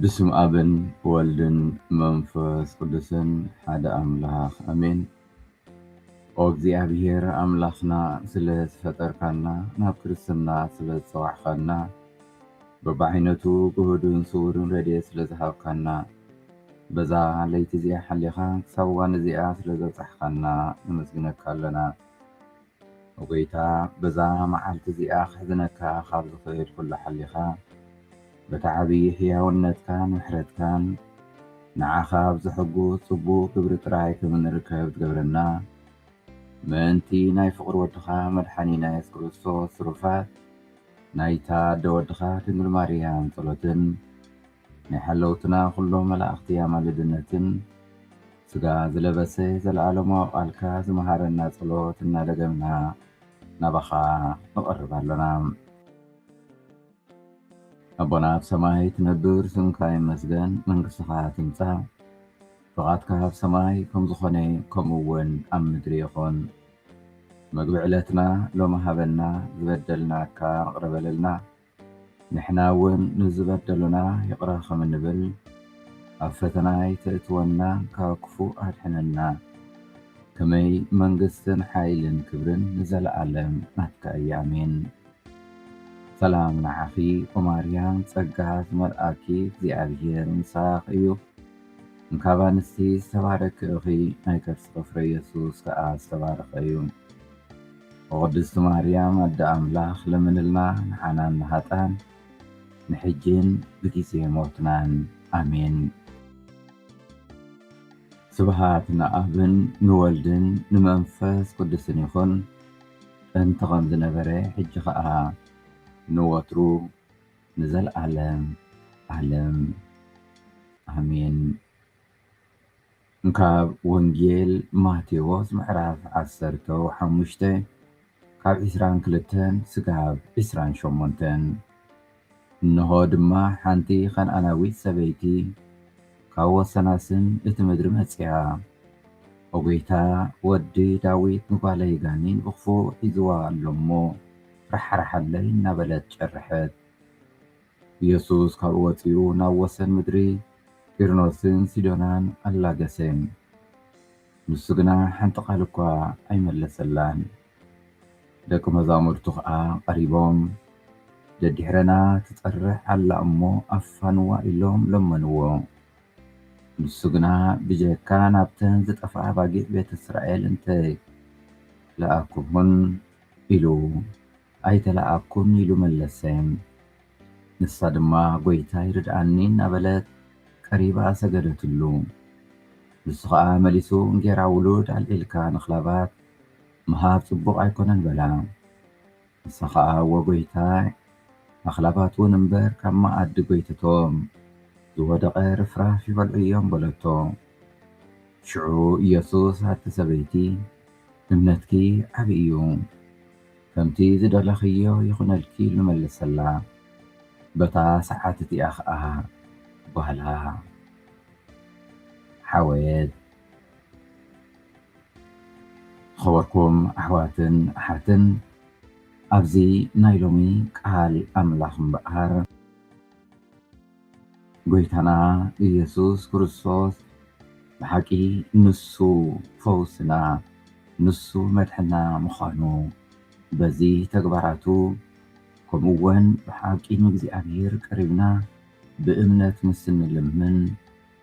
ብስም ኣብን ወልድን መንፈስ ቅዱስን ሓደ ኣምላኽ ኣሜን። ኦ እግዚኣብሔር ኣምላኽና ስለ ዝፈጠርካና ናብ ክርስትና ስለ ዝጸዋዕካና በብዓይነቱ ግህዱን ስውርን ረድኤት ስለ ዝሃብካና በዛ ለይቲ እዚኣ ሓሊኻ ክሳብ እዋን እዚኣ ስለ ዘብጻሕካና ነመስግነካ ኣለና። ኦጎይታ በዛ መዓልቲ እዚኣ ከሕዝነካ ካብ ዝኽእል ኩሉ ሓሊኻ በቲ ዓብዪ ሕያውነትካን ምሕረትካን ንዓኻ ኣብ ዘሐጉስ ጽቡቕ ግብሪ ጥራይ ከም እንርከብ ትገብረና ምእንቲ ናይ ፍቕሪ ወድኻ መድሓኒና የሱስ ክርስቶስ ትሩፋት ናይታ ኣደ ወድኻ ድንግል ማርያም ጸሎትን ናይ ሓለውትና ኩሎም መላእኽቲ ኣማልድነትን ስጋ ዝለበሰ ዘለኣለማዊ ቃልካ ዝመሃረና ጸሎት እናደገምና ናባኻ ንቐርብ ኣሎና። ኣቦና ኣብ ሰማይ ትነብር፣ ስምካ ይመስገን፣ መንግስትኻ ትምጻእ፣ ፍቓድካ ኣብ ሰማይ ከም ዝኾነ ከምኡ እውን ኣብ ምድሪ ይኹን። መግቢ ዕለትና ሎሚ ሃበና፣ ዝበደልናካ ንቕረ በለልና፣ ንሕና እውን ንዝበደሉና ይቕረ ኸም እንብል፣ ኣብ ፈተና ኣይተእትወና፣ ካብ ክፉእ ኣድሕነና። ከመይ መንግስትን ሓይልን ክብርን ንዘለኣለም ናትካ እያ ኣሜን። ሰላም ንዓኺ ኦ ማርያም ጸጋ ዝመልኣኪ እግዚኣብሄር ምሳኽ እዩ እንካብ ኣንስቲ ዝተባረኪ እኺ ናይ ከርስኺ ፍረ የሱስ ከኣ ዝተባረኸ እዩ። ኦ ቅድስቲ ማርያም ኣደ ኣምላኽ ለምንልና ንሓናን ንሃጣን ንሕጂን ብጊዜ ሞትናን ኣሜን። ስብሃት ንኣብን ንወልድን ንመንፈስ ቅዱስን ይኹን ጥንቲ ከም ዝነበረ ሕጂ ከኣ ንወትሩ ንዘልኣለም ኣለም ኣሜን። ካብ ወንጌል ማቴዎስ ምዕራፍ ዓሰርተ ሓሙሽተ ካብ ዕስራን ክልተን ስጋብ ዕስራን ሸሞንተን እንሆ ድማ ሓንቲ ኸንኣናዊት ሰበይቲ ካብ ወሰናስን እቲ ምድሪ መጺኣ፣ ኦ ጐይታ፣ ወዲ ዳዊት፣ ንጓለይ ጋኔን ብኽፉእ ሒዝዋ ኣሎ እሞ፣ ራሕራሓለይ እናበለት ጨርሐት። ኢየሱስ ካብኡ ወጺኡ ናብ ወሰን ምድሪ ጢርኖስን ሲዶናን ኣላገሰ። ንሱ ግና ሓንቲ ቓል እኳ ኣይመለሰላን። ደቂ መዛሙርቱ ኸኣ ቐሪቦም፣ ደዲሕረና ትጸርሕ ኣላ እሞ ኣፋንዋ ኢሎም ለመንዎ። ንሱ ግና ብጀካ ናብተን ዝጠፍኣ ኣባጊዕ ቤት እስራኤል እንተ ለኣክኹን ኢሉ ኣይተላኣኣኩን ኢሉ መለሰ። ንሳ ድማ ጎይታይ ርድኣኒ እናበለት ቀሪባ ሰገደትሉ። ንሱ ኸኣ መሊሱ እንጌራ ውሉድ ኣልዒልካ ንክላባት ምሃብ ጽቡቕ ኣይኮነን በላ። ንሳ ኸኣ እወ ጎይታይ ኣኽላባትውን እምበር ካብ መኣዲ ጎይትቶም ዝወደቐ ርፍራፍ ይበልዑ እዮም በለቶ። ሽዑ ኢየሱስ ኣቲ ሰበይቲ እምነትኪ ዓቢ እዩ ከምቲ ዝደለኽዮ ይኹነልኪ ኢሉ መለሰላ። በታ ሰዓት እቲኣ ኸኣ ጓላ ሓወየት። ዝኸበርኩም ኣሕዋትን ኣሓትን ኣብዚ ናይ ሎሚ ቃል ኣምላኽ እምበኣር፣ ጎይታና እየሱስ ክርስቶስ ብሓቂ ንሱ ፈውስና ንሱ መድሕና ምዃኑ በዚ ተግባራቱ ከምኡ ወን ብሓቂ ንእግዚኣብሔር ቀሪብና ብእምነት ምስ እንልምን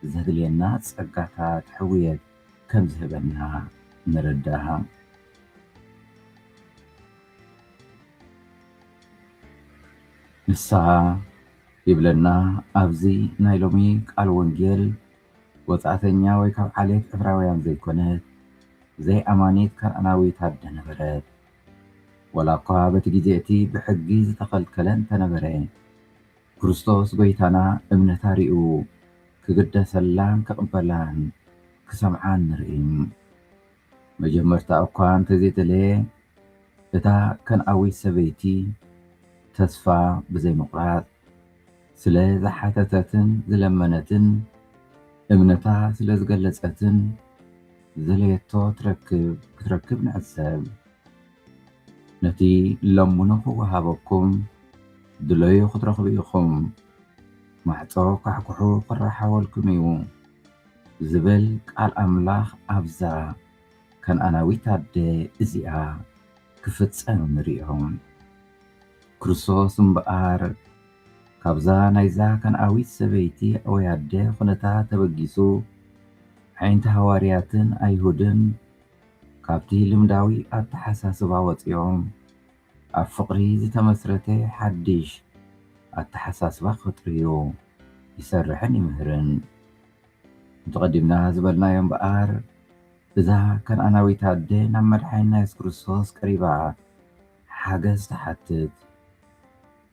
ዘድልየና ጸጋታት ሕውየት ከም ዝህበና ንርዳእ። ንስሃ ይብለና ኣብዚ ናይ ሎሚ ቃል ወንጌል ወጻእተኛ ወይ ካብ ዓሌት ዕብራውያን ዘይኮነት ዘይኣማኒት ከነኣናዊት ኣደ ነበረት። ወላ እኳ በቲ ግዜ እቲ ብሕጊ ዝተኸልከለ እንተነበረ ክርስቶስ ጎይታና እምነታ ሪኡ ክግደሰላን ክቕበላን ክሰምዓን ንርኢ። መጀመርታ እኳ እንተዘይተለየ፣ እታ ከነኣዊት ሰበይቲ ተስፋ ብዘይምቝራጽ ስለ ዝሓተተትን ዝለመነትን፣ እምነታ ስለ ዝገለጸትን፣ ዝደለየቶ ትረክብ ክትረክብ ንዕዘብ። ነቲ ለምኑ ኽወሃበኩም፣ ድለዩ ኽትረኽቡ ኢኹም፣ ማዕጾ ኳሕኩሑ ኽረሓወልኩም እዩ። ዝብል ቃል ኣምላኽ ኣብዛ ከነኣናዊት ኣደ እዚኣ ክፍጸም ንርእዮ። ክርስቶስ እምበኣር ካብዛ ናይዛ ከነኣዊት ሰበይቲ ወይ ኣደ ዅነታት ተበጊሱ፣ ኣዒንቲ ሃዋርያትን ኣይሁድን ካብቲ ልምዳዊ ኣተሓሳስባ ወጺኦም፣ ኣብ ፍቕሪ ዝተመስረተ ሓድሽ ኣተሓሳስባ ክፈጥር'ዩ ይሰርሕን ይምህርን። ከምቲ ቀዲምና ዝበልናዮ እምበኣር እዛ ከነኣናዊት ኣደ ናብ መድሓኒና የሱስ ክርስቶስ ቀሪባ ሓገዝ ትሓትት።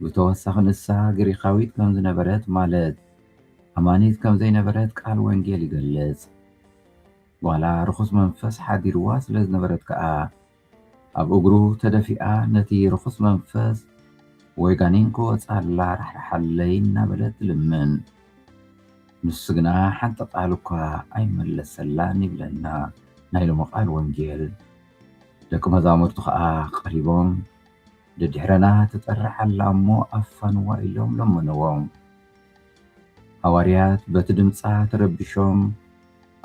ብተወሳኺ ንሳ ግሪኻዊት ከም ዝነበረት ማለት ኣማኒት ከም ዘይነበረት ቃል ወንጌል ይገልጽ። ጓላ ርኹስ መንፈስ ሓዲርዋ ስለ ዝነበረት ከኣ ኣብ እግሩ ተደፊኣ ነቲ ርኹስ መንፈስ ወይ ጋኔን ክወጽኣላ ራሕርሓለይ እናበለት ትልምን። ንሱ ግና ሓንቲ ቃል እኳ ኣይመለሰላን ይብለና ናይ ሎሚ ቃል ወንጌል። ደቂ መዛሙርቱ ከኣ ቀሪቦም ደድሕረና ትጠርዕ ኣላ እሞ ኣፋንዋ ኢሎም ለመንዎ። ሃዋርያት በቲ ድምጻ ተረቢሾም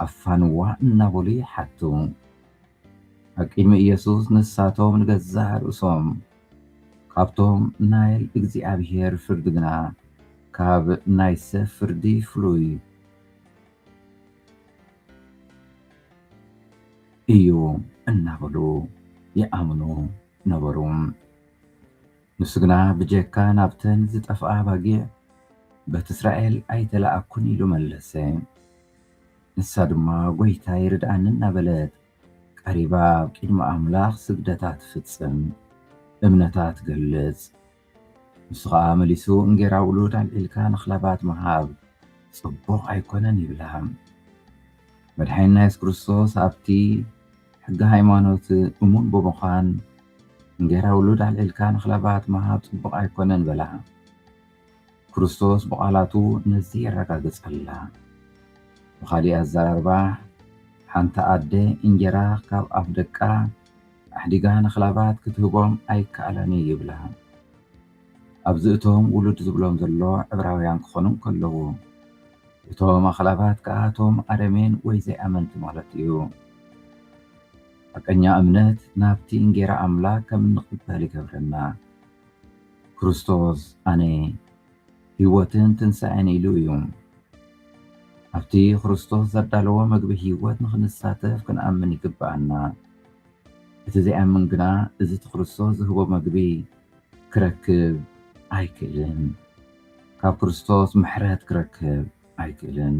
ኣፋንዋ እናበሉ ይሓቱ። ኣብ ቅድሚ ኢየሱስ ንሳቶም ንገዛእ ርእሶም ካብቶም ናይ እግዚኣብሔር ፍርዲ ግና ካብ ናይ ሰብ ፍርዲ ፍሉይ እዩ እናበሉ ይኣምኑ ነበሩ። ንሱ ግና ብጀካ ናብተን ዝጠፍኣ ኣባጊዕ በቲ እስራኤል ኣይተለኣኩን ኢሉ መለሰ። ንሳ ድማ ጐይታይ ርድኣኒ እናበለት ቀሪባ ኣብ ቂድሚ ኣምላኽ ስግደታ ትፍጽም፣ እምነታ ትገልጽ። ንሱ ኸኣ መሊሱ እንጌራ ውሉድ ኣልዒልካ ንክላባት ምሃብ ጽቡቕ ኣይኮነን ይብላ። መድሓኒና የሱስ ክርስቶስ ኣብቲ ሕጊ ሃይማኖት እሙን ብምዃን እንጌራ ውሉድ ኣልዒልካ ንክላባት ምሃብ ጽቡቕ ኣይኮነን በላ። ክርስቶስ ብቓላቱ ነዚ የረጋግጸልና። ብኻሊእ ኣዘራርባ፣ ሓንቲ ኣደ እንጀራ ካብ ኣፍ ደቃ ኣሕዲጋ ንክላባት ክትህቦም ኣይከኣላን እዩ ይብላ። ኣብዚ እቶም ውሉድ ዝብሎም ዘሎ ዕብራውያን ክኾኑ እንከለዉ፣ እቶም ኣኽላባት ከኣ እቶም ኣረሜን ወይ ዘይኣመንቲ ማለት እዩ። ሓቀኛ እምነት ናብቲ እንጌራ ኣምላክ ከም እንቕበል ይገብረና። ክርስቶስ ኣነ ህይወትን ትንሣኤን ኢሉ እዩ። ኣብቲ ክርስቶስ ዘዳለዎ መግቢ ህይወት ንኽንሳተፍ ክንኣምን ይግብኣና። እቲ ዘይኣምን ግና እዚ እቲ ክርስቶስ ዝህቦ መግቢ ክረክብ ኣይክእልን። ካብ ክርስቶስ ምሕረት ክረክብ ኣይክእልን።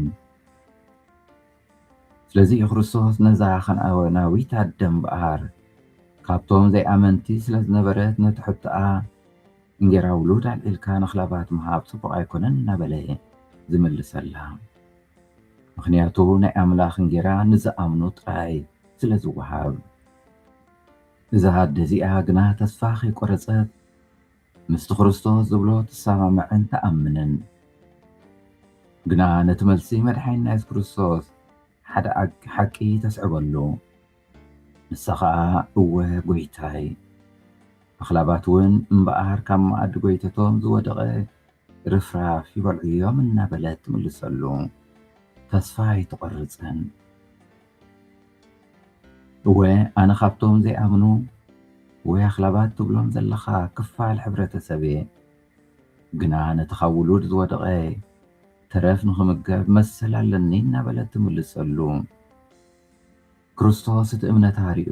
ስለዚ እዩ ክርስቶስ ነዛ ከነኣናዊት ኣደ እምበኣር ካብቶም ዘይኣመንቲ ስለ ዝነበረት ነቲ ሕቶኣ እንጌራ ውሉድ ኣልዒልካ ንኽላባት ምሃብ ጽቡቕ ኣይኮነን እናበለ ዝምልሰላ። ምኽንያቱ ናይ ኣምላኽ እንጌራ ንዝኣምኑ ጥራይ ስለ ዝወሃብ። እዛ ኣደ እዚኣ ግና ተስፋ ከይቈረጸት ምስቲ ክርስቶስ ዝብሎ ትሰማማዕን ትኣምንን። ግና ነቲ መልሲ መድሓኒና የሱስ ክርስቶስ ሓደ ሓቂ ተስዕበሉ። ንሳ ኸኣ እወ ጎይታይ። ኣኽላባት እውን እምበኣር ካብ መኣዲ ጎይተቶም ዝወደቐ ርፍራፍ ይበልዑ እዮም እናበለት ትምልሰሉ። ተስፋ ኣይትቖርጽን። እወ ኣነ ካብቶም ዘይኣምኑ ወይ ኣኽላባት ትብሎም ዘለኻ ክፋል ሕብረተሰብ እየ። ግና ነቲ ካብ ውሉድ ዝወደቐ ተረፍ ንኽምገብ መሰል ኣለኒ እናበለት ትምልሰሉ። ክርስቶስ እቲ እምነታ ሪኡ።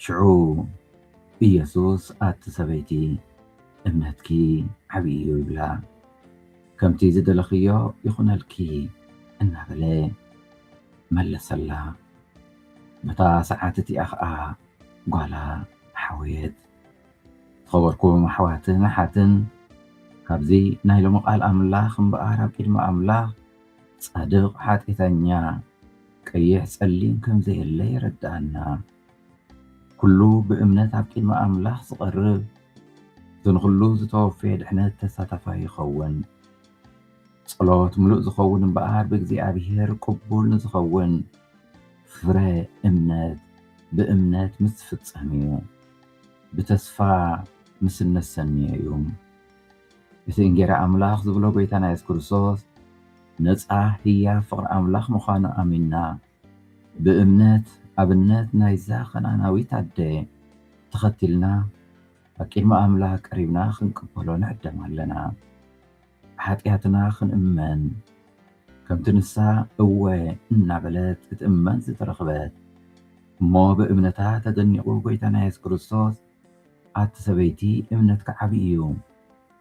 ሽዑ ኢየሱስ ኣቲ ሰበይቲ እምነትኪ ዓቢ እዩ ይብላ። ከምቲ ዝደለኽዮ ይኹነልኪ እናበለ መለሰላ። በታ ሰዓት እቲኣ ኸኣ ጓላ ሓወየት። ዝኸበርኩም ኣሕዋትን ኣሓትን ካብዚ ናይ ሎሚ ቃል ኣምላኽ እምበኣር ኣብ ቅድሚ ኣምላኽ ጻድቕ ሓጢኤተኛ ቀይሕ ጸሊም ከምዘየለ የረድኣና። ኩሉ ብእምነት ኣብ ቅድሚ ኣምላኽ ዝቐርብ እቲ ንኹሉ ዝተወፈየ ድሕነት ተሳታፋይ ይኸውን። ጸሎት ምሉእ ዝኸውን እምበኣር ብእግዚኣብሔር ቅቡል ንዝኸውን ፍረ እምነት ብእምነት ምስ ዝፍጸም እዩ። ብተስፋ ምስ እነሰንዮ እዩ። እቲ እንጌራ ኣምላኽ ዝብሎ ጎይታና የሱስ ክርስቶስ ነጻ ህያብ ፍቕሪ ኣምላኽ ምዃኑ ኣሚንና ብእምነት ኣብነት ናይዛ ከነኣናዊት ኣደ ተኸቲልና ኣብ ቅድሚ ኣምላኽ ቀሪብና ክንቅበሎ ንዕደም ኣለና። ብሓጢኣትና ክንእመን ከምቲ ንሳ እወ እናበለት ክትእመን ዝተረኽበት እሞ ብእምነታ ተደኒቑ ጎይታና የሱስ ክርስቶስ ኣቲ ሰበይቲ እምነትኪ ዓቢ እዩ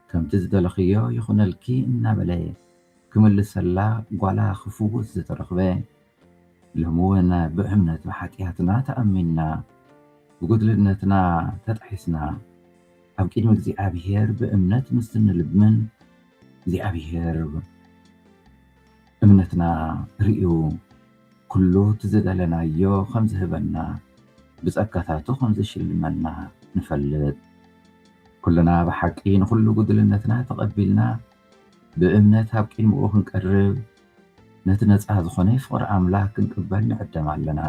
ከምቲ ዝደለኽዮ ይኹነልኪ እናበለ ክምልሰላ ጓላ ክፍውስ ዝተረኽበ ሎሚ ውን ብእምነት ብሓጥያትና ተኣሚንና ብጉድልነትና ተጣሒስና ኣብ ቅድሚ እግዚኣብሄር ብእምነት ምስ እንልምን እግዚኣብሄር እምነትና ርእዩ ኩሉ እቲ ዝደለናዮ ከም ዝህበና ብጸጋታቱ ከም ዝሽልመና ንፈልጥ ኩልና ብሓቂ ንኹሉ ጉድልነትና ተቐቢልና ብእምነት ኣብ ቂድምኡ ክንቀርብ ነቲ ነጻ ዝኾነ ፍቕሪ ኣምላክ ክንቅበል ንዕደም ኣለና።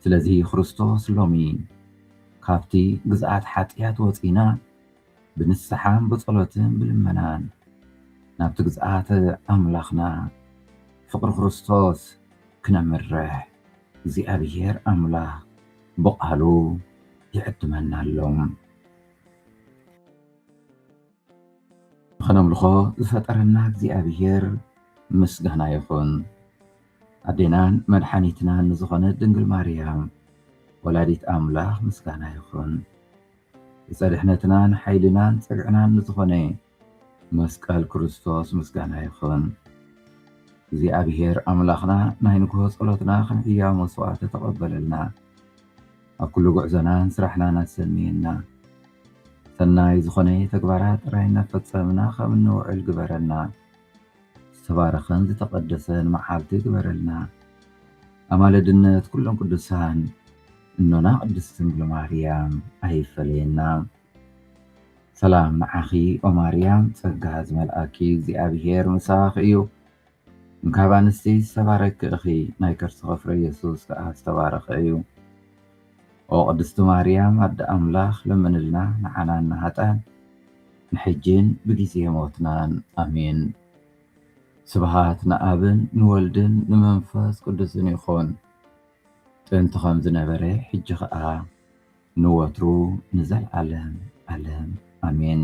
ስለዚ ክርስቶስ ሎሚ ካብቲ ግዝኣት ሓጥያት ወጺእና ብንስሓን ብጸሎትን ብልመናን ናብቲ ግዝኣት ኣምላኽና ፍቕሪ ክርስቶስ ክነምርሕ እግዚኣብሄር ኣምላክ ብቃሉ ይዕድመና ኣሎ። ኸነምልኾ ዝፈጠረና እግዚኣብሔር ምስጋና ይኹን። ኣዴናን መድሓኒትናን ንዝኾነት ድንግል ማርያም ወላዲት ኣምላኽ ምስጋና ይኹን። ብፀድሕነትናን ሓይልናን ፅግዕናን ንዝኾነ መስቀል ክርስቶስ ምስጋና ይኹን። እግዚኣብሔር ኣምላኽና ናይ ንግሆ ጸሎትና ከም ሕያው መስዋዕቲ ተቐበለልና። ኣብ ኩሉ ጉዕዞናን ስራሕናን ኣሰንየና ሰናይ ዝኾነ ተግባራት ጥራይ እናፈጸምና ከም እንውዕል ግበረና ዝተባረኸን ዝተቐደሰን መዓልቲ ግበረልና ኣማለድነት ኩሎም ቅዱሳን እኖና ቅድስት ድንግል ማርያም ኣይፈለየና ሰላም ንዓኺ ኦማርያም ጸጋ ዝመልኣኪ እግዚኣብሔር ምሳኽ እዩ ካብ ኣንስቲ ዝተባረኪ እኺ ናይ ከርስኺ ፍረ የሱስ ከኣ ዝተባረኸ እዩ ኦ ቅድስቲ ማርያም ኣደ ኣምላኽ ለምንልና ንዓናን ንሃጣን ንሕጂን ብጊዜ ሞትናን ኣሜን ስብሃት ንኣብን ንወልድን ንመንፈስ ቅዱስን ይኹን ጥንቲ ከም ዝነበረ ሕጂ ከኣ ንወትሩ ንዘልዓለም ዓለም ኣሜን